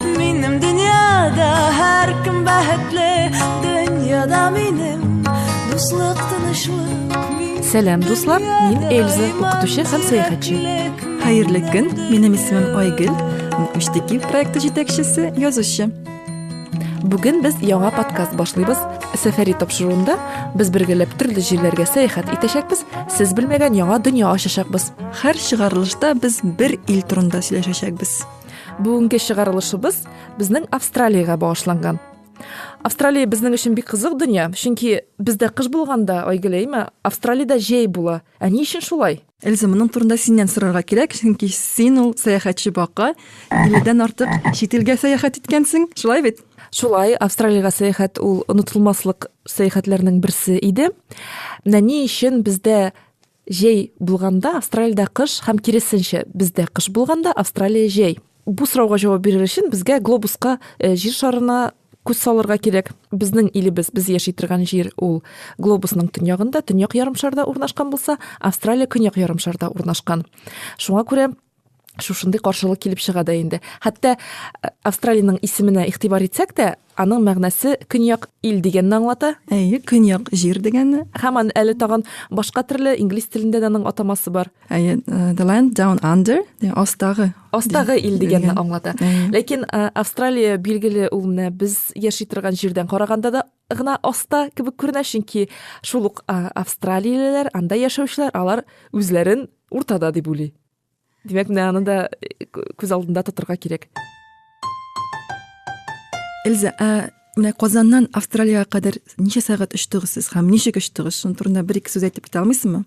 Минем дөньяда һәркем бәхетле, дөньяда минем дуслык тынычлык. Сәлам, дуслар, мин Эльза, укытучы һәм сәяхәтче. Хәерле көн, минем исемем Айгөл, Мөштеки проекты җитәкчесе, язучы. Бүген без яңа подкаст башлыйбыз. Сәфәри тапшыруында без бергәләп төрле җирләргә сәяхәт итәчәкбез, сез белмәгән яңа дөнья ачачакбыз. Һәр чыгарылышта без бер ил турында сөйләшәчәкбез. Бүгенге чыгарылышыбыз безнең Австралиягә багышланган. Австралия безнең өчен бик кызык дөнья, чөнки бездә кыш булганда, Айгөл, әйме, Австралиядә җәй була. Ә ни өчен шулай? Эльза, моның турында синнән сорарга кирәк, чөнки син ул сәяхәтче бака, 50 дән артык чит илгә сәяхәт иткәнсең, шулай бит? Шулай, Австралиягә сәяхәт ул онытылмаслык сәяхәтләрнең берсе иде. Менә ни өчен бездә Җәй булганда Австралиядә кыш һәм киресенчә, бездә кыш булганда Австралия җәй. Бу сорауга җавап бирер өчен безгә глобуска, э, җир шарына күз салырга кирәк. Безнең илебез, без яши торган җир ул глобусның төньягында, төньяк ярымшарда урнашкан булса, Австралия көньяк ярымшарда урнашкан. Шуңа күрә шушындый каршылык килеп чыга да инде хәтта э, австралиянең исеменә игътибар итсәк тә аның мәгънәсе көньяк ил дигәнне аңлата әйе көньяк җир дигәнне һәм аны әле тагын башка төрле инглиз телендә дә аның атамасы бар әйе э, the land down under астагы астагы ил дигәнне аңлата ләкин э, австралия билгеле ул менә без яши торган җирдән караганда да гына аста кебек күренә, чөнки шул ук австралиялеләр, анда яшәүчеләр, алар үзләрен уртада дип уйлый. Димәк, менә аны да э, күз алдында тотырга кирәк. Эльза, ә менә Казаннан Австралиягә кадәр ничә сәгать очтыгыз сез һәм ничек очтыгыз? Шуның турында бер-ике сүз әйтеп китә алмыйсызмы?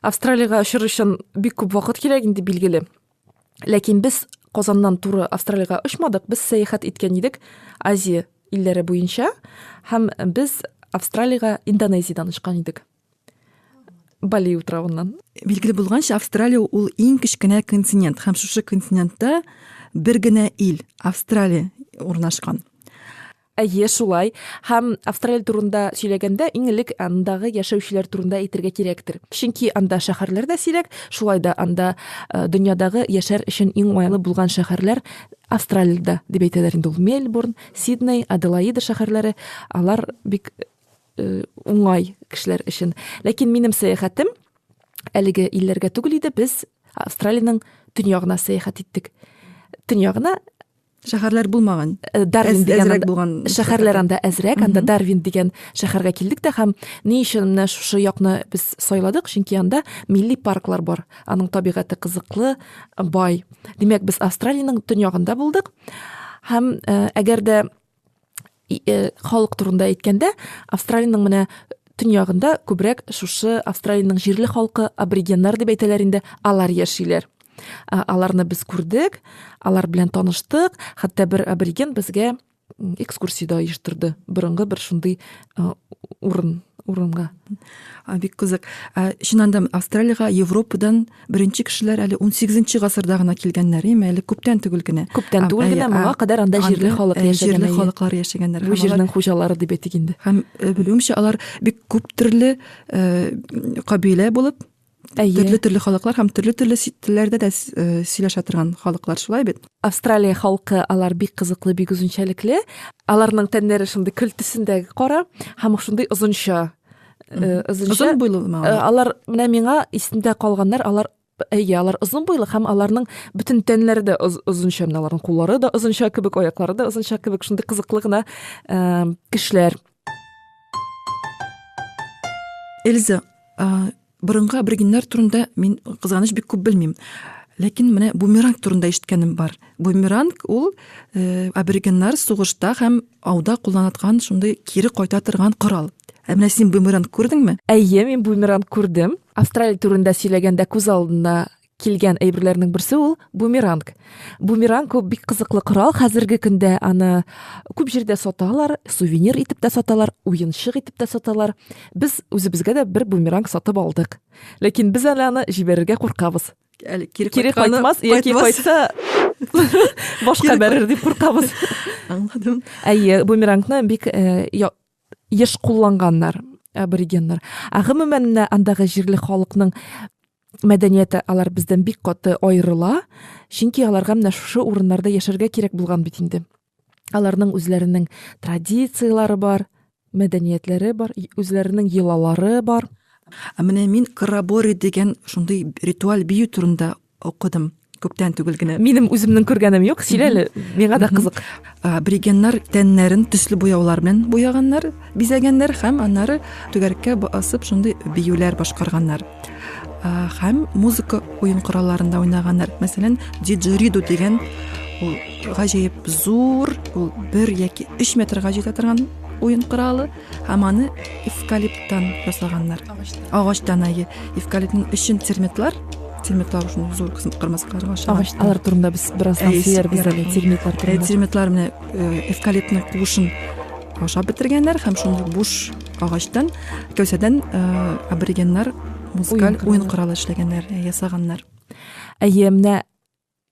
Австралиягә очыр өчен бик күп вакыт кирәк инде билгеле. Ләкин без Казаннан туры Австралиягә очмадык, без сәяхәт иткән идек Азия илләре буенча һәм без Австралиягә Индонезиядән очкан идек. Бали утравыннан. Билгеле булганча, Австралия ул иң кечкенә континент һәм шушы континентта бер генә ил, Австралия урнашкан. Әйе, шулай. Һәм Австралия турында сөйләгәндә, иң элек андагы яшәүчеләр турында әйтергә кирәктер. Чөнки анда шәһәрләр дә сирәк, шулай да анда э, дөньядагы яшәр өчен иң уңайлы булган шәһәрләр Австралиядә дип әйтәләр инде ул. Мельбурн, Сидней, Аделаида шәһәрләре, алар бик э, уңай кешеләр өчен. Ләкин минем сәяхәтем әлеге илләргә түгел иде, без Австралиянең төньягына сәяхәт иттек. Төньягына Шәһәрләр булмаган. Э, Дарвин дигән булган шәһәрләр анда әзрәк, анда Дарвин дигән шәһәргә килдек тә һәм ни өчен менә шушы якны без сайладык, чөнки анда милли парклар бар. Аның табигате кызыклы, бай. Димәк, без Австралиянең төньягында булдык. Һәм э, әгәр дә э, халык турында әйткәндә австралиянең менә төньягында күбрәк шушы австралиянең җирле халкы аборигеннар дип әйтәләр инде алар яшиләр э, аларны без күрдек алар белән таныштык хәтта бер абориген безгә экскурсия дә оештырды борынгы бер шундый урын урынга бик кызык ә чыннан да австралиягә европадан беренче кешеләр әле ун сигезенче гасырда гына килгәннәр име әле күптән түгел генә күптән түгел генә моңа кадәр анда җирле халык яшәгән җирле халыклар яшәгәннәр бу җирнең хуҗалары дип әйтик инде һәм белүемчә алар бик күп төрле кабилә булып Әйе. Төрле-төрле халыклар һәм төрле-төрле телләрдә дә э, сөйләшә торган халыклар шулай бит. Австралия халкы алар бик кызыклы, бик үзенчәлекле. Аларның тәннәре шундый көл төсендәге кара һәм шундый озынча. Э, озынча. Озын буйлымы? Э, алар менә миңа исендә калганнар, алар әйе алар озын буйлы һәм аларның бөтен тәннәре дә озынча менә аларның куллары да озынча кебек аяклары да озынча кебек шундый кызыклы гына кешеләр Эльза, борынгы аборигеннар турында мин кызганыч бик күп белмим. Ләкин менә бумеранг турында ишеткәнем бар. Бумеранг ул э, аборигеннар сугышта һәм ауда кулланаткан шундый кире кайта торган корал. Ә менә син бумеранг күрдеңме? Әйе, мин бумеранг күрдем. Австралия турында сөйләгәндә күз алдына килгән әйберләрнең берсе ул бумеранг. Бумеранг ул бик кызыклы корал. Хәзерге көндә аны күп җирдә саталар, сувенир итеп тә саталар, уенчык итеп тә саталар. Без үзебезгә дә бер бумеранг сатып алдык. Ләкин без әле аны җибәрергә куркабыз. Әле кире, кире кайтмас, яки кайтса башка бәрер дип куркабыз. Аңладым. Әйе, бумерангны бик э, еш кулланганнар аборигеннар. Ә гомумән андагы җирле халыкның мәдәнияте алар бездән бик каты аерыла, чөнки аларга менә шушы урыннарда яшәргә кирәк булган бит инде. Аларның үзләренең традицияләре бар, мәдәниятләре бар, үзләренең йолалары бар. Ә менә мин Карабори дигән шундый ритуаль бию турында укыдым. күптән түгел генә минем үземнең күргәнем юк сөйлә әле миңа да кызык аборигеннар тәннәрен төсле буяулар белән буяганнар бизәгәннәр һәм аннары түгәрәккә басып шундый биюләр башкарганнар һәм музыка уен коралларында уйнаганнар мәсәлән диджериду дигән ул гаҗәеп зур ул бер яки өч метрга җитә торган уен коралы Һәм аны эвкалиптан ясаганнар. Агачтан. Агачтан әйе. Эвкалиптның өчен термитлар, термитлар өчен зур кысым кырмыскаларга ашаган. Агач, алар турында без бераздан Әйе, сөйләрбез әле, ярый. термитлар Ә турында. термитлар менә э, эвкалиптның куышын ашап бетергәннәр һәм шундый буш агачтан, кәүсәдән э, аборигеннар музыкаль Уен уен коралы эшләгәннәр, э, ясаганнар. Әйе, менә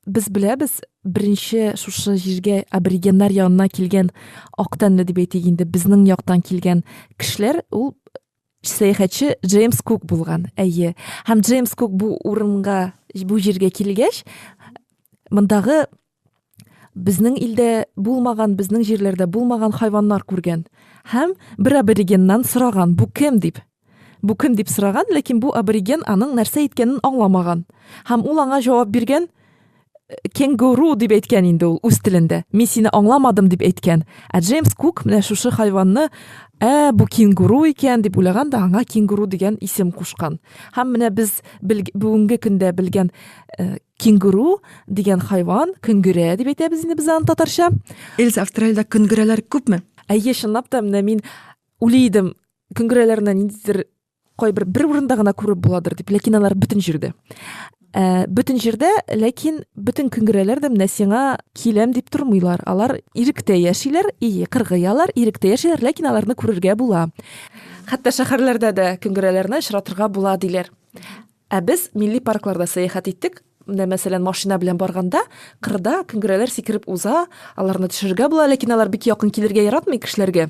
без беләбез, беренче шушы җиргә аборигеннар янына килгән ак тәнле дип әйтик инде, безнең яктан килгән кешеләр ул сәяхәтче Джеймс Кук булган. Әйе. Һәм Джеймс Кук бу урынга, бу җиргә килгәч, мондагы безнең илдә булмаган, безнең җирләрдә булмаган хайваннар күргән һәм бер аборигеннан сораган, бу кем дип. Бу кем дип сораган, ләкин бу абориген аның нәрсә әйткәнен аңламаган. Һәм ул аңа җавап биргән, кенгуру дип әйткән инде ул үз телендә. Мин сине аңламадым дип әйткән. Ә Джеймс Кук менә шушы хайванны, ә, бу кенгуру икән дип уйлаган да аңа кенгуру дигән исем кушкан. Һәм менә без бүгенге көндә белгән э, кенгуру дигән хайван, көнгерә дип әйтәбез инде без аны татарча. Эльза, Австралиядә көнгерәләр күпме? Әйе, чынлап та менә мин уйлый идем, Күңгерәләрне ниндидер кайбер бер урында гына күреп буладыр дип, ләкин алар бөтен җирдә. Ә, бөтен җирдә, ләкин бөтен күңгерәләр дә менә сиңа киләм дип тормыйлар. Алар иректә яшиләр, и, кыргыялар, иректә яшиләр, ләкин аларны күрергә була. Хәтта шәһәрләрдә дә күңгерәләрне очратырга була, диләр. Ә без милли паркларда сәяхәт иттек. Менә, мәсәлән, машина белән барганда, кырда күңгерәләр сикереп уза, аларны төшерергә була, ләкин алар бик якын килергә яратмый кешеләргә.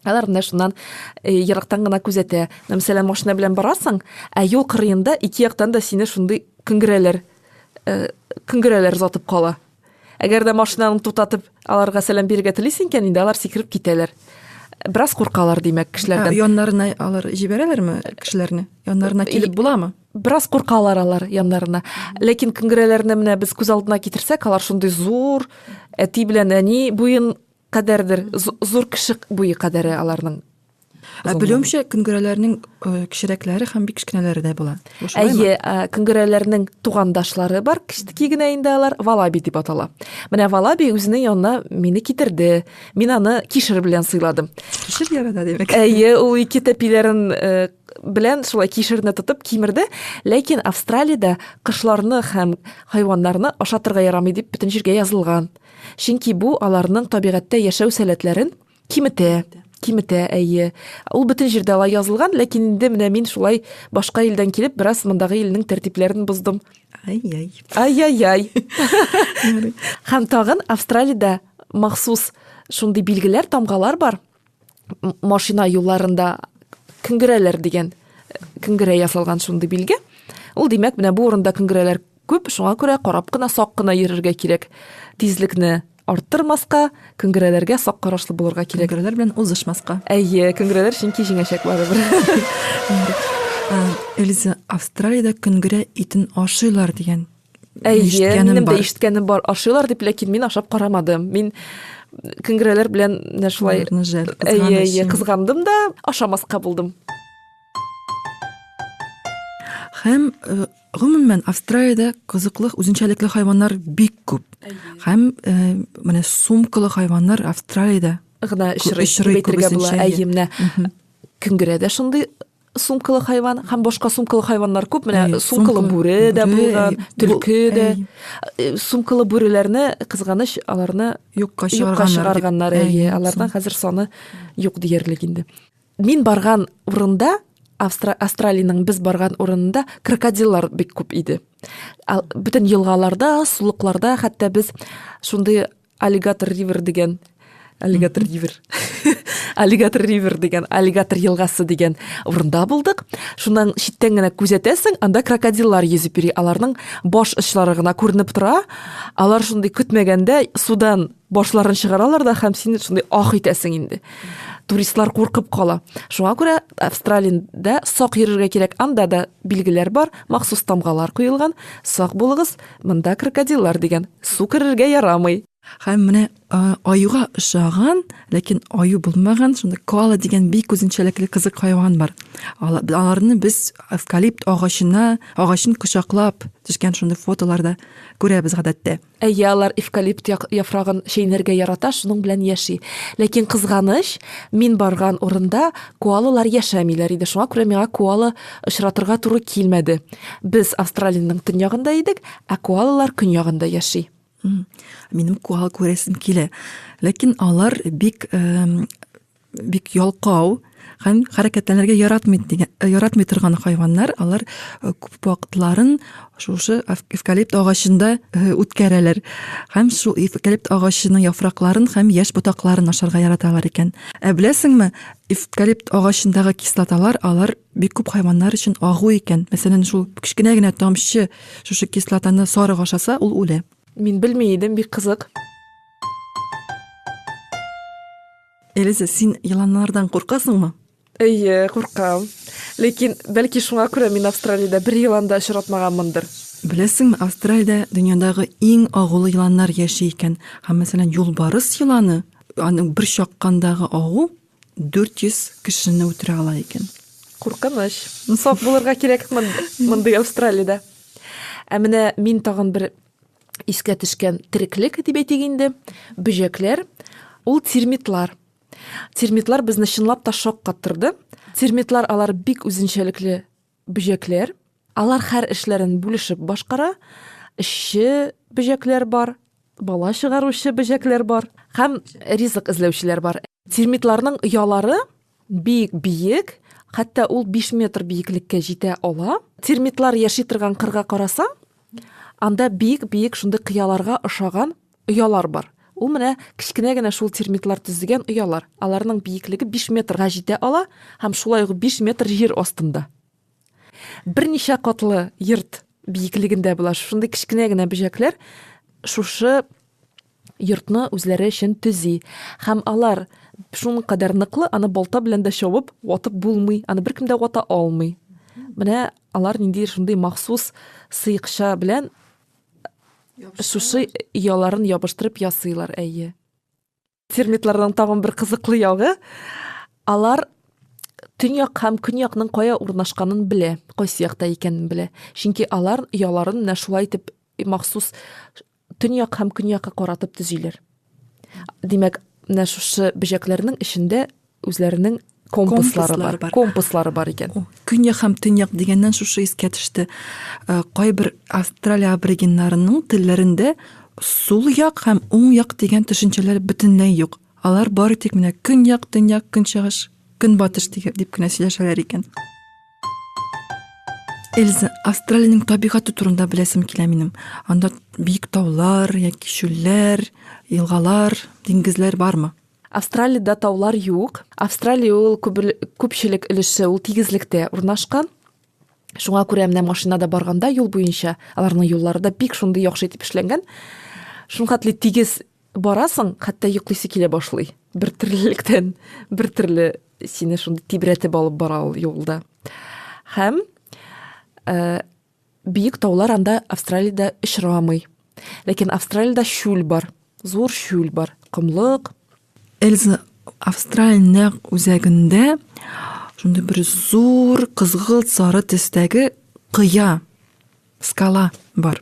Алар менә шуннан э, ерактан гына күзәтә. Мәсәлән, машина белән барасың, ә юл кырыенда ике яктан да сине шундый күңгерәләр, э, күңгерәләр затып кала. Әгәр дә машинаны туктатып, аларга сәлам бирергә телисең икән, инде алар сикереп китәләр. Бераз куркалар, димәк, кешеләрдән. Ә, яннарына алар җибәрәләрме кешеләрне? Яннарына килеп буламы? Бераз куркалар алар яннарына. Ләкин күңгерәләрне менә без күз алдына китерсәк, алар шундый зур, әти белән әни буен кадәрдер зур кеше буе кадәре аларның Ә белүемчә, көнгерәләрнең кечерәкләре һәм бик кечкенәләре дә була. Әйе, көнгерәләрнең тугандашлары бар, кечтеки генә инде алар валаби дип атала. Менә валаби үзенең янына мине китерде. Мин аны кишер белән сыйладым. Кишер ярата димәк. Әйе, ул ике тәпиләрен белән шулай кишерне тотып кимерде, ләкин Австралиядә кошларны һәм хайваннарны ашатырга ярамый дип бөтен җиргә язылган. Чөнки бу аларның табигатьтә яшәү сәләтләрен киметә, киметә, әйе. Ул бөтен җирдә алай язылган, ләкин инде менә мин шулай башка илдән килеп, бераз мондагы илнең тәртипләрен боздым. Ай-яй. Ай-яй-яй. Һәм тагын Австралиядә махсус шундый билгеләр, тамгалар бар. машина юлларында көнгерәләр дигән көнгерә ясалган шундый билге. Ул димәк, менә бу урында көнгерәләр күп, шуңа күрә карап кына, сак кына йөрергә кирәк. Тизлекне арттырмаска, көнгерәләргә сак карашлы булырга кирәк. Көнгерәләр белән узышмаска. Әйе, көнгерәләр чөнки җиңәчәк барыбер. Эльза, Австралиядә көнгерә итен ашыйлар дигән Әйе, минем дә ишеткәнем бар. Ашыйлар дип, ләкин мин ашап карамадым. Мин көнгерәләр белән менә шулай әйе, әйе, кызгандым да, ашамаска булдым. Һәм э, гомумән Австралиядә кызыклы үзенчәлекле хайваннар бик күп. Һәм э, менә сумкалы хайваннар Австралиядә гына очрый, очрый дип әйтергә була. Әйе, менә көнгерәдә шундый сумкалы хайван һәм башка сумкалы хайваннар күп. Менә Әй, сумкалы бүре дә булган, төлке дә. Э, сумкалы бүреләрне кызганыч аларны юкка чыгарганнар. Әйе, алардан хәзер саны юк диярлек инде. Мин барган урында Австра Австралиянең без барган урынында крокодиллар бик күп иде. Бүтән елгаларда, сулыкларда хәтта без шундый Аллигатор ривер дигән аллигатор ривер аллигатор ривер дигән аллигатор елгасы дигән урында булдык шуннан читтән генә күзәтәсең анда крокодиллар йөзеп йөри аларның баш очлары гына күренеп тора алар шундый көтмәгәндә судан башларын чыгаралар да һәм син шундый ах итәсең инде туристлар куркып кала шуңа күрә австралиядә сак йөрергә кирәк анда да билгеләр бар махсус тамгалар куелган сак булыгыз Монда крокодиллар дигән су керергә ярамый. Һәм менә аюга ошаган, ләкин аю булмаган, шунда коала дигән бик үзенчәлекле кызык хайван бар. Аларны без эвкалипт агачына, агачын кочаклап төшкән шундый фотоларда күрәбез гадәттә. Әйе, алар эвкалипт яфрагын чәйнәргә ярата, шуның белән яши. Ләкин кызганыч, мин барган урында коалалар яшәмиләр иде. Шуңа күрә миңа коала Очратырга туры килмәде. Без Австралиянең төньягында идек, ә куалалар көньягында яши. Минем куал күрәсем килә. Ләкин алар бик бик ялкау һәм хәрәкәтләнергә яратмый дигән яратмый торган хайваннар алар күп вакытларын Шушы эвкалипт агачында э, үткәрәләр. Һәм шул эвкалипт агачының яфракларын һәм яшь ботакларын ашарга яраталар икән. Ә беләсеңме, эвкалипт агачындагы кислоталар алар бик күп хайваннар өчен агу икән. Мәсәлән, шул кечкенә генә тамчы шушы кислотаны сарык ашаса, ул үлә. Мин белми идем, бик кызык. Элиза, син еланнардан куркасыңмы? Әйе, куркам. Ләкин, бәлки, шуңа күрә мин Австралиядә бер елан да очратмаганмындыр. Беләсеңме, Австралиядә дөньядагы иң агулы еланнар яши икән. Һәм, мәсәлән, юлбарыс еланы, аның бер чаккандагы агу 400 кешене үтерә ала икән. Куркыныч. Сак булырга кирәк мондый Австралиядә. Ә менә мин тагын бер искә төшкән тереклек дип әйтик инде, бөҗәкләр, ул термитлар. Термитлар безне чынлап та шаккаттырды. Термитлар алар бик үзенчәлекле бөҗәкләр. Алар хәр эшләрен бүлешеп башкара. Эшче бөҗәкләр бар, бала чыгаручы бөҗәкләр бар һәм ризык эзләүчеләр бар. Термитларның оялары бик биек, хәтта ул 5 метр биеклеккә җитә ала. Термитлар яши торган кырга карасаң, анда бик-бик шундый кыяларга ошаган Оялар бар. Ул менә кечкенә генә шул термитлар төзегән оялар. Аларның биеклеге 5 метрга җитә ала һәм шулай ук 5 метр җир астында. Берничә катлы йорт биеклегендә була. Шундый кечкенә генә бөҗәкләр шушы йортны үзләре өчен төзи. Һәм алар шуның кадәр ныклы, аны балта белән дә чабып, ватып булмый, аны беркем дә вата алмый. Менә алар нинди шундый махсус сыекча белән Шушы яларын ябыштырып ясыйлар, әйе. Термитларның тагын бер кызыклы ягы, алар төньяк һәм көньякның кая урнашканын белә, кайсы якта икәнен белә. Чөнки алар яларын менә шулай итеп махсус төньяк һәм көньякка каратып төзиләр. Димәк, менә шушы бөҗәкләрнең эчендә үзләренең компаслары бар. бар. Компаслары бар икән. Көньяк һәм төньяк дигәннән шушы искә төште. Э, кайбер Австралия аборигеннарының телләрендә сул як һәм уң як дигән төшенчәләр бөтенләй юк. Алар бары тик менә көньяк, төньяк, көнчыгыш, көнбатыш дип кенә сөйләшәләр икән. Эльза, Австралиянең табигаты турында беләсем килә минем. Анда бик таулар, яки чүлләр, елгалар, диңгезләр бармы? Австралиядә таулар юк. Австралия ул күпчелек өлеше ул тигезлектә урнашкан. Шуңа күрә менә машинада барганда юл буенча аларның юллары да бик шундый яхшы итеп эшләнгән. Шул хәтле тигез Барасың, хәтта йоклыйсы килә башлый. Бер төрлелектән, бер төрле сине шундый тибрәтеп алып бара ул юлда. Һәм ә, биек таулар анда Австралиядә очрамый. Ләкин Австралиядә шүл бар, зур шүл бар, комлык. Эльза Австралия нәкъ үзәгендә шундый бер зур кызгылт сары төстәге кыя Скала бар.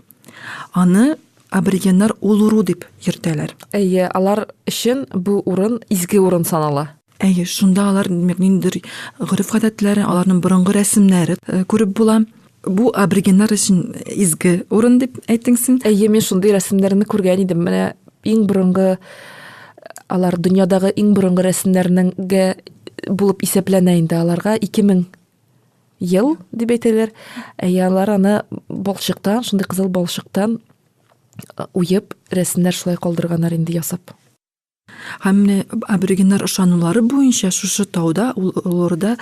Аны аборигеннар Улуру дип йөртәләр. Әйе, алар өчен бу урын изге урын санала. Әйе, шунда алар ниндидер гореф-гадәтләре, аларның борынгы рәсемнәре э, күреп була. Бу аборигеннар өчен изге урын дип әйттең син. Әйе, мин шундый рәсемнәрне күргән идем. Менә иң борынгы алар дөньядагы иң борынгы рәсемнәрнең булып исәпләнә инде аларга 2000 ел дип әйтәләр. Ә ярлар аны балчыктан, шундый кызыл балчыктан уеп, рәсемнәр шулай калдырганнар инде ясап. Һәм менә аборигеннар ышанулары буенча шушы тауда, ул олорда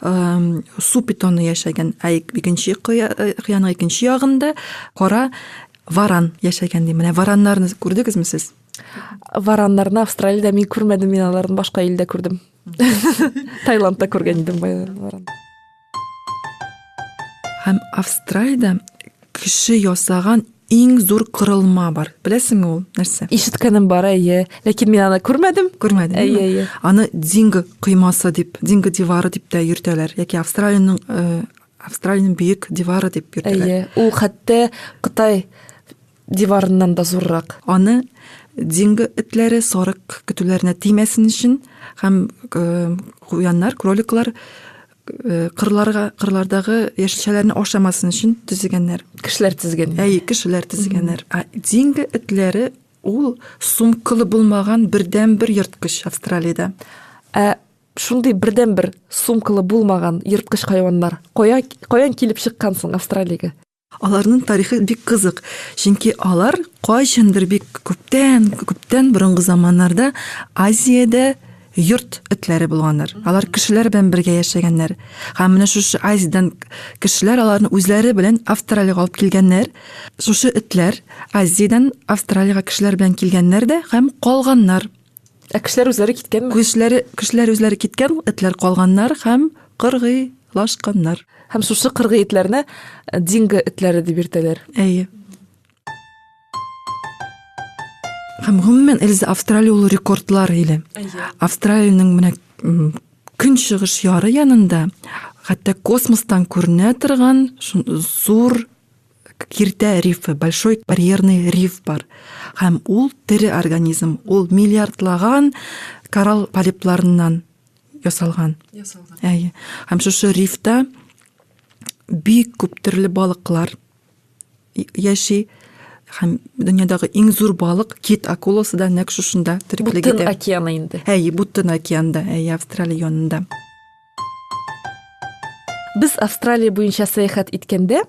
су питоны яшәгән, ә икенче кыяның икенче ягында кара варан яшәгән ди. Менә вараннарны күрдегезме сез? Вараннарны Австралиядә мин күрмәдем, мин аларны башка илдә күрдем. Таиландта күргән идем байларын. Һәм Австралиядә кеше ясаган иң зур кырылма бар. Беләсеңме ул нәрсә? Ишеткәнем бар, әйе. Ләкин мин аны күрмәдем. Күрмәдем. Әйе, әйе. Аны Динго коймасы дип, Динго дивары дип тә йөртәләр. Яки Австралиянең э, Австралиянең бөек дивары дип йөртәләр. Әйе. Ул хәтта Кытай Диварыннан да зуррак. Аны динго этләре, сарык көтүләренә тимәсен өчен һәм куяннар, кроликлар Э, кырларга кырлардагы яшелчәләрне ашамасын өчен төзегәннәр кешеләр тезгән әй кешеләр тезгәннәр ә динго этләре ул сумкылы булмаган бердән бер ерткыч австралиядә ә шундый бердән бер сумкылы булмаган ерткыч хайваннар кая каян килеп чыккан соң австралиягә Аларның тарихы бик кызык, чөнки алар кайчандыр бик күптән, күптән борынгы заманнарда Азиядә йорт этләре булганнар. Алар кешеләр белән бергә яшәгәннәр. Һәм менә шушы Азиядән кешеләр аларны үзләре белән Австралиягә алып килгәннәр. Шушы этләр Азиядән Австралиягә кешеләр белән килгәннәр дә һәм калганнар. Ә кешеләр үзләре киткәнме? Кешеләр, кешеләр үзләре киткән, этләр калганнар һәм кыргыйлашканнар. Һәм шушы кыргый этләрне э, динго этләре дип йөртәләр. Әйе. Һәм гомумән Эльза Австралия ул рекордлар иле. Австралиянең менә көнчыгыш яры янында хәтта космостан күренә торган зур Киртә рифы, большой барьерный риф бар. Һәм ул тере организм, ул миллиардлаган коралл полипларыннан ясалган. Ясалган. Әйе. Һәм шушы рифта бик күп төрле балыклар яши һәм дөньядагы иң зур балык кит акуласы да нәкъ шушында тереклек итә. Бутын океаны инде. Әйе, Бутын океанда, әйе, Австралия янында. Без Австралия буенча сәяхәт иткәндә,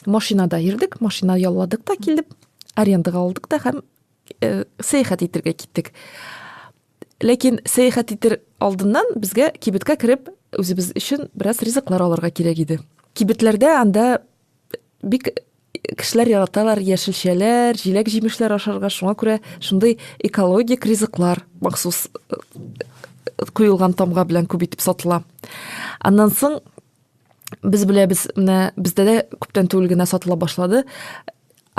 машинада йөрдек машина ялладык та килдек арендаға алдык та һәм э, сәяхәт итәргә киттек ләкин сәяхәт итер алдыннан безгә кибеткә кереп үзебез өчен бераз ризыклар алырга кирәк иде кибетләрдә анда бик кешеләр яраталар яшелчәләр җиләк җимешләр ашарга шуңа күрә шундый экологик ризыклар махсус э, куелган тамга белән күп итеп сатыла аннан соң без беләбез менә бездә дә күптән түгел генә сатыла башлады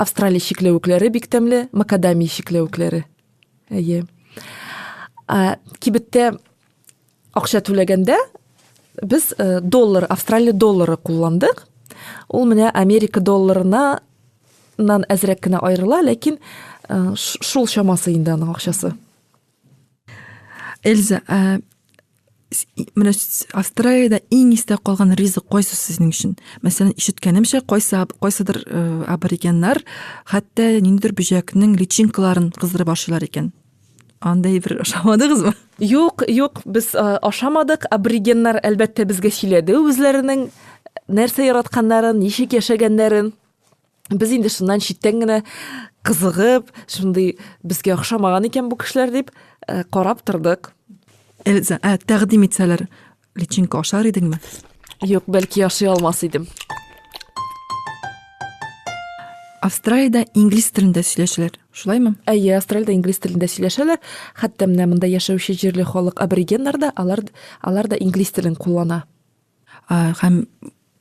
австралия чикләвекләре бик тәмле макадамия чикләвекләре әйе ә, кибеттә акча түләгәндә без ә, доллар австралия доллары кулландык ул менә америка долларына нан әзрәк кенә аерыла ләкин ә, шул чамасы инде аның акчасы эльза ә, менә австралиядә иң истә калган ризык кайсы сезнең өчен мәсәлән ишеткәнемчә кайсы кайсыдыр э, аборигеннар хәтта ниндидер бөҗәкнең личинкаларын кыздырып ашыйлар икән андай бер ашамадыгызмы юк юк без э, ашамадык аборигеннар әлбәттә безгә сөйләде үзләренең нәрсә яратканнарын ничек яшәгәннәрен без инде шуннан читтән генә кызыгып шундый безгә охшамаган икән бу кешеләр дип э, карап тордык эльза ә тәкъдим итсәләр личинка ашар идеңме юк бәлки яши алмас идем австралияда инглиз телендә сөйләшәләр шулаймы әйе австралияда инглиз телендә сөйләшәләр хәтта менә монда яшәүче җирле халык аборигеннар да алар алар да инглиз телен куллана Ә, һәм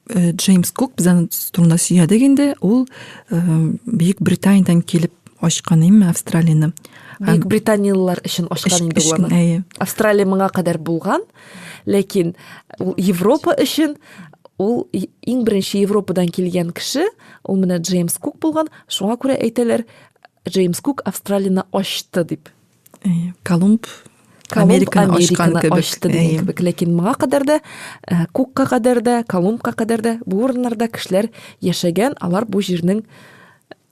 э, Джеймс Кук без аны турында сөйләдек инде, ул э, Бөек Британиядән килеп ачкан име Австралияне. Бөек британиялылар өчен ачкан инде ул. Австралия моңа кадәр булган, ләкин Европа өчен ул иң беренче Европадан килгән кеше, ул менә Джеймс Кук булган, шуңа күрә әйтәләр, Джеймс Кук Австралияне ачты дип. Колумб Американы ачкан кебек. Ачты дигән кебек. Ләкин моңа кадәр дә, э, Кукка кадәр дә, Колумбка кадәр дә бу урыннарда кешеләр яшәгән, алар бу җирнең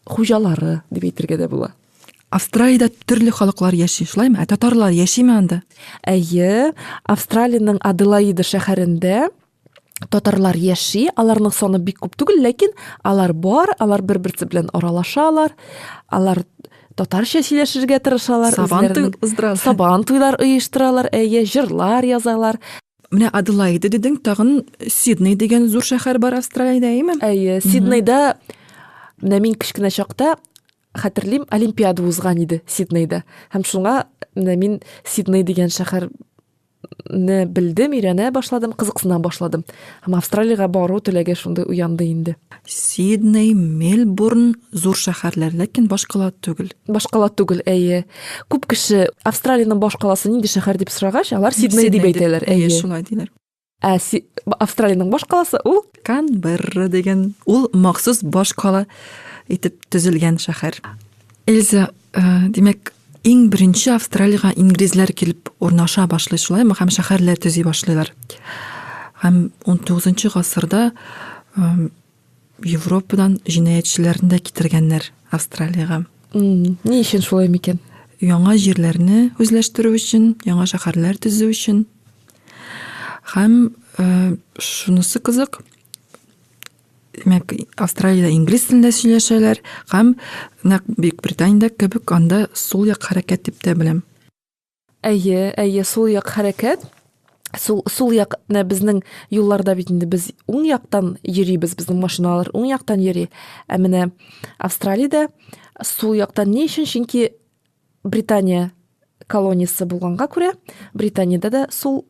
хуҗалары дип әйтергә дә була. Австралиядә төрле халыклар яши, шулаймы? Ә татарлар яшиме анда? Әйе, Австралиянең Аделаида шәһәрендә татарлар яши, аларның саны бик күп түгел, ләкин алар бар, алар бер-берсе белән аралашалар, алар татарча сөйләшергә тырышалар. Сабан туйлар, сабан туйлар оештыралар, әйе, җырлар язалар. Менә Аделаида дидең, тагын Сидней дигән зур шәһәр бар Австралиядә, әйеме? Әйе, Сиднейда менә мин кечкенә чакта хәтерлим, олимпиада узган иде Сиднейда. Һәм шуңа менә мин Сидней дигән шәһәр не белдем, өйрәнә башладым, кызыксына башладым. Һәм Австралиягә бару теләге шундый уянды инде. Сидней, Мельбурн зур шәһәрләр, ләкин башкала түгел. Башкала түгел, әйе. Күп кеше Австралиянең башкаласы нинди шәһәр дип сорагач, алар Сидней дип әйтәләр. Әйе, шулай диләр. Ә си... Австралиянең башкаласы ул Канберра дигән, ул махсус башкала итеп төзелгән шәһәр. Эльза, димәк, иң беренче Австралиягә инглизләр килеп урнаша башлый шулаймы һәм шәһәрләр төзи башлыйлар. Һәм 19 гасырда Европадан җинаятьчеләрне дә китергәннәр Австралиягә. Ни өчен шулай микән? Яңа җирләрне үзләштерү өчен, яңа шәһәрләр төзү өчен. Һәм шунысы кызык, Димәк, Австралиядә инглиз телендә сөйләшәләр һәм нәкъ Бөекбританиядә кебек анда сул як хәрәкәт дип тә беләм. Әйе, әйе, сул як хәрәкәт. Сул, сул як, менә безнең юлларда бит инде без уң яктан йөрибез, безнең машиналар уң яктан йөри. Ә менә Австралиядә сул яктан ни өчен? Чөнки Британия колониясе булганга күрә, Британиядә дә сул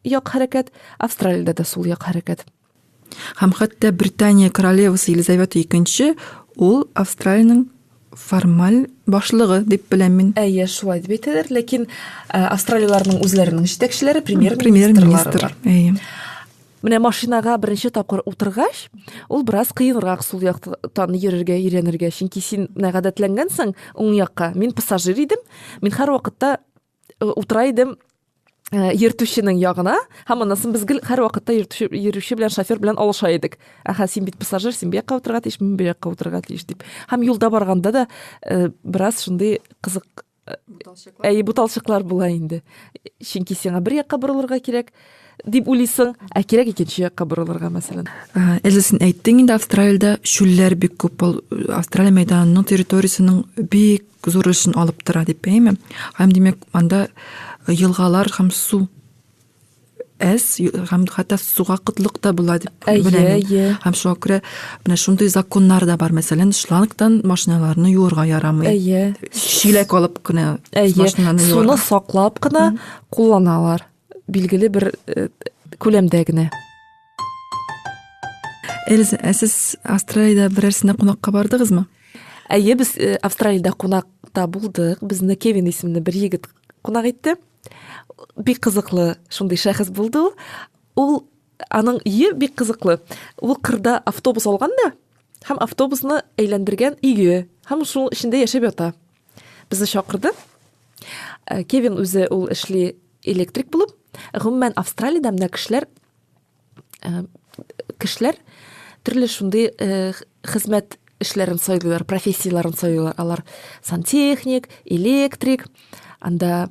як хәрәкәт, Австралиядә дә сул як хәрәкәт. Һәм хәтта Британия королевасы Елизавета II ул Австралиянең формаль башлыгы дип беләм мин. Әйе, шулай дип әйтәләр, ләкин э, австралияләрнең үзләренең җитәкчеләре премьер-министрлары. Әйе. Менә машинага беренче тапкыр утыргач, ул бераз кыенрак сул яктан йөрергә өйрәнергә, чөнки син менә гадәтләнгәнсең уң якка. Мин пассажир идем, мин һәрвакытта утыра идем Э, йөртүченең ягына һәм аннан без гел һәрвакытта йөртүче йөрүче белән шофер белән алыша идек әһә син бит пассажир син бу якка утырырга тиеш мин бу якка утырырга тиеш дип һәм юлда барганда да э, бераз шундый кызык э, әйе буталчыклар була инде чөнки сиңа бер якка борылырга кирәк Дип уйлыйсың, ә кирәк икенче якка борылырга, мәсәлән. Эльза, син әйттең инде, Австралиядә шүлләр бик күп. Ул Австралия мәйданының территориясенең бик зур өлешен алып тора, дип әйме? Һәм димәк, анда елгалар һәм су әз һәм хәтта суга кытлык та була дип беләм. Һәм шуңа күрә менә шундый законнар да бар. Мәсәлән, шлангтан машиналарны юырга ярамый. Әйе. Шиләк алып кына машинаны юарга. Суны саклап кына кулланалар. Билгеле бер э, күләмдә генә. Эльза, ә сез Австралиядә берәрсенә кунакка бардыгызмы? Әйе, без э, Австралиядә кунакта булдык. Безне Кевин исемле бер егет кунак итте. Бик кызыклы шундый шәхес булды ул. Ул аның ие бик кызыклы. Ул кырда автобус алган да, һәм автобусны әйләндергән иге, һәм шуның эчендә яшәп ята. Безне чакырды. Э, Кевин үзе ул эшли электрик булып. Гомумән Австралиядә менә кешеләр э, кешеләр төрле шундый э, хезмәт эшләрен сайлыйлар, профессияләрен сайлыйлар. Алар сантехник, электрик, анда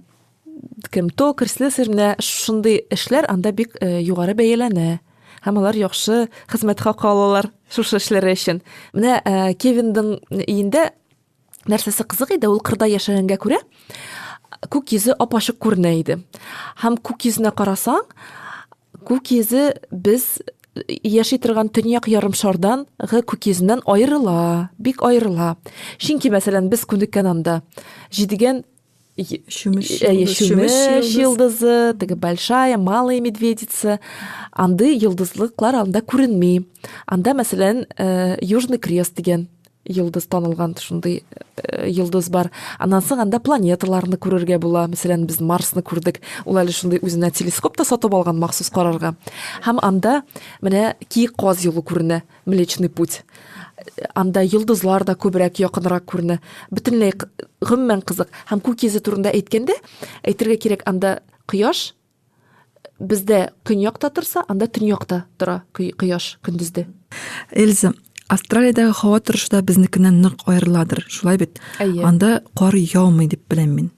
кем токарь, слесарь менә шундый эшләр анда бик э, югары бәяләнә. Һәм алар яхшы хезмәт хакы алалар шушы эшләре өчен. Менә э, Кевиндың өендә нәрсәсе кызык иде, ул кырда яшәгәнгә күрә, күк йөзе апачык күренә иде. Һәм күк йөзенә карасаң, күк йөзе без яши торган төньяк ярымшардан гы күк йөзеннән аерыла, бик аерыла. Чөнки, мәсәлән, без күнеккән анда җидегән чүмеч чүмеч йолдызы теге большая малая медведица андый йолдызлыклар анда күренми анда мәсәлән э, южный крест дигән йолдыз танылган шундый э, йолдыз бар аннан соң анда планеталарны күрергә була мәсәлән без марсны күрдек ул әле шундый үзенә телескоп та сатып алган махсус карарга һәм анда менә киек каз юлы күренә Млечный путь. Анда йолдызлар да күбрәк якынрак күренә. Бөтенләй гомумән кызык. Һәм күк йөзе турында әйткәндә, әйтергә кирәк, анда кояш бездә көньякта торса, анда төньякта тора кояш көндезде. Эльза, Австралиядәге һава торышы да безнекеннән нык аерыладыр, шулай бит? Анда кар яумый дип беләм мин.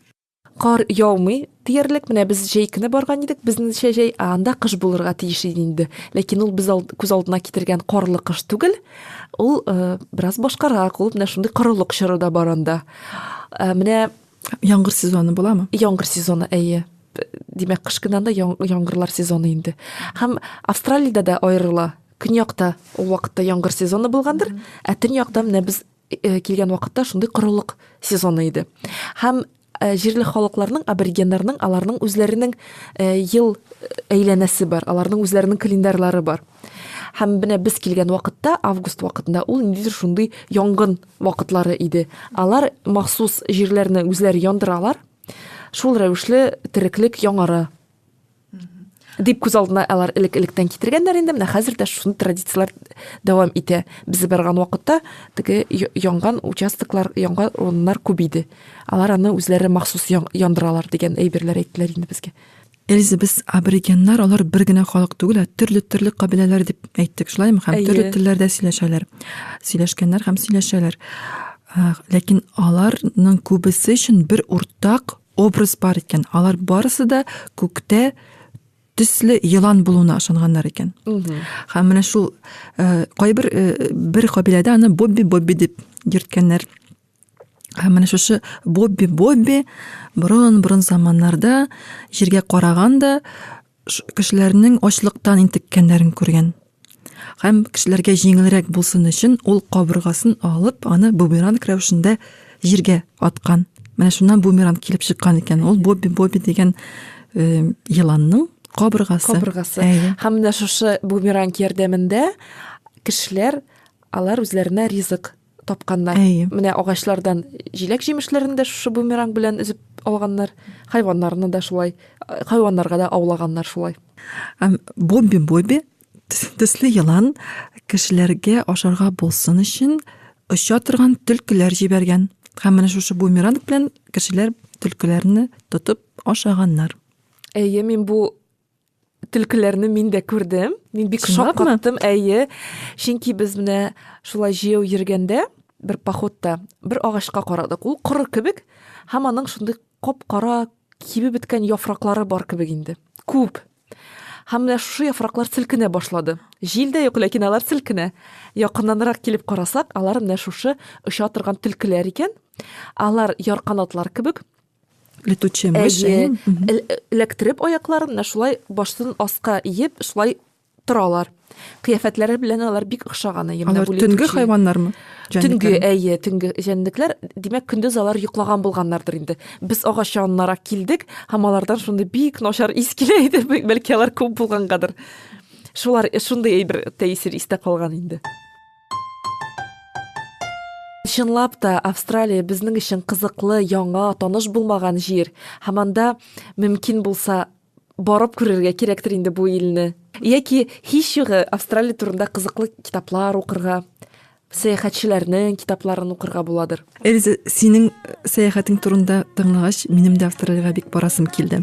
Кар яумый диярлек, менә без җәй көне барган идек, безнеңчә җәй, ә анда кыш булырга тиеш иде инде. Ләкин ул без алд, күз алдына китергән карлы кыш түгел, ул э, бераз башкарак, ул менә шундый корылык чоры да бар анда. Э, менә Яңгыр сезоны буламы? яңгыр сезоны, әйе. Димәк, кыш көне анда яң- яңгырлар сезоны инде. Һәм Австралиядә дә аерыла. Көньякта ул вакытта яңгыр сезоны булгандыр, ә төньякта менә без килгән вакытта шундый корылык сезоны иде. Һәм җирле халыкларның, аборигеннарның, аларның үзләренең ел әйләнәсе бар, аларның үзләренең календарьлары бар. Һәм менә без килгән вакытта, август вакытында ул ниндидер шундый янгын вакытлары иде. Алар махсус җирләрне үзләре яндыралар. Шул рәвешле тереклек яңара. дип күз алдына алар элек электән китергәннәр инде менә хәзер дә шуны традицияләр дәвам итә без барган вакытта теге янган участоклар янган урыннар күп иде алар аны үзләре махсус яндыралар дигән әйберләр әйттеләр инде безгә Эльза, без аборигеннар, алар бер генә халык түгел, ә төрле-төрле кабиләләр дип әйттек, шулаймы? Һәм төрле телләрдә сөйләшәләр. Сөйләшкәннәр һәм сөйләшәләр. Ләкин аларның күбесе өчен бер уртак образ бар икән. Алар барысы да күктә төсле елан булуына ышанганнар икән. Һәм менә шул э, кайбер э, бер кабиләдә аны Бобби Бобби дип йөрткәннәр. Һәм менә шушы Бобби Бобби борын-борын заманнарда җиргә караган да кешеләрнең ачлыктан интеккәннәрен күргән. Һәм кешеләргә җиңелрәк булсын өчен, ул кабыргасын алып, аны бумеранг рәвешендә җиргә аткан. Менә шуннан бумеранг килеп чыккан икән. Ул Бобби Бобби дигән э, еланның кабыргасы. Кабыргасы. Әйе. Һәм менә шушы бумеранг ярдәмендә кешеләр алар үзләренә ризык тапканнар. Әйе. Менә агачлардан җиләк җимешләрен дә шушы бумеранг белән өзеп алганнар. Хайваннарны да шулай, хайваннарга да аулаганнар шулай. Бобби Бобби төсле елан кешеләргә ашарга булсын өчен оча торган төлкеләр җибәргән. Һәм менә шушы бумеранг белән кешеләр төлкеләрне тотып ашаганнар. Әйе, мин бу Түлкеләрне мин дә күрдем. Мин бик шок каттым, әйе. Чөнки без менә шулай җәяү йөргәндә, бер походта, бер агачка карадык. Ул коры кебек, һәм аның шундый кап-кара кибеп беткән яфраклары бар кебек инде. Күп. Һәм менә шушы яфраклар селкенә башлады. Җил дә юк, ләкин алар селкенә. Якыннанрак килеп карасак, алар менә шушы оча торган төлкеләр икән. Алар ярканатлар кебек, летучая мышь эләктереп аякларын менә шулай баштан аска иеп шулай торалар кыяфәтләре белән алар бик охшаган әйе алар төнге хайваннармы төнге әйе төнге җәнлекләр димәк көндез алар йоклаган булганнардыр инде без агач янынарак килдек һәм алардан шундый бик начар ис килә иде бәлки алар күп булгангадыр шулар шундый әйбер тәэсир истә калган инде Чынлап та, Австралия безнең өчен кызыклы, яңа, таныш булмаган җир. Һәм анда мөмкин булса барып күрергә кирәктер инде бу илне. Яки һич югы Австралия турында кызыклы китаплар укырга, сәяхәтчеләрнең китапларын укырга буладыр. Эльза, синең сәяхәтең турында тыңлагач, минем дә Австралиягә бик барасым килде.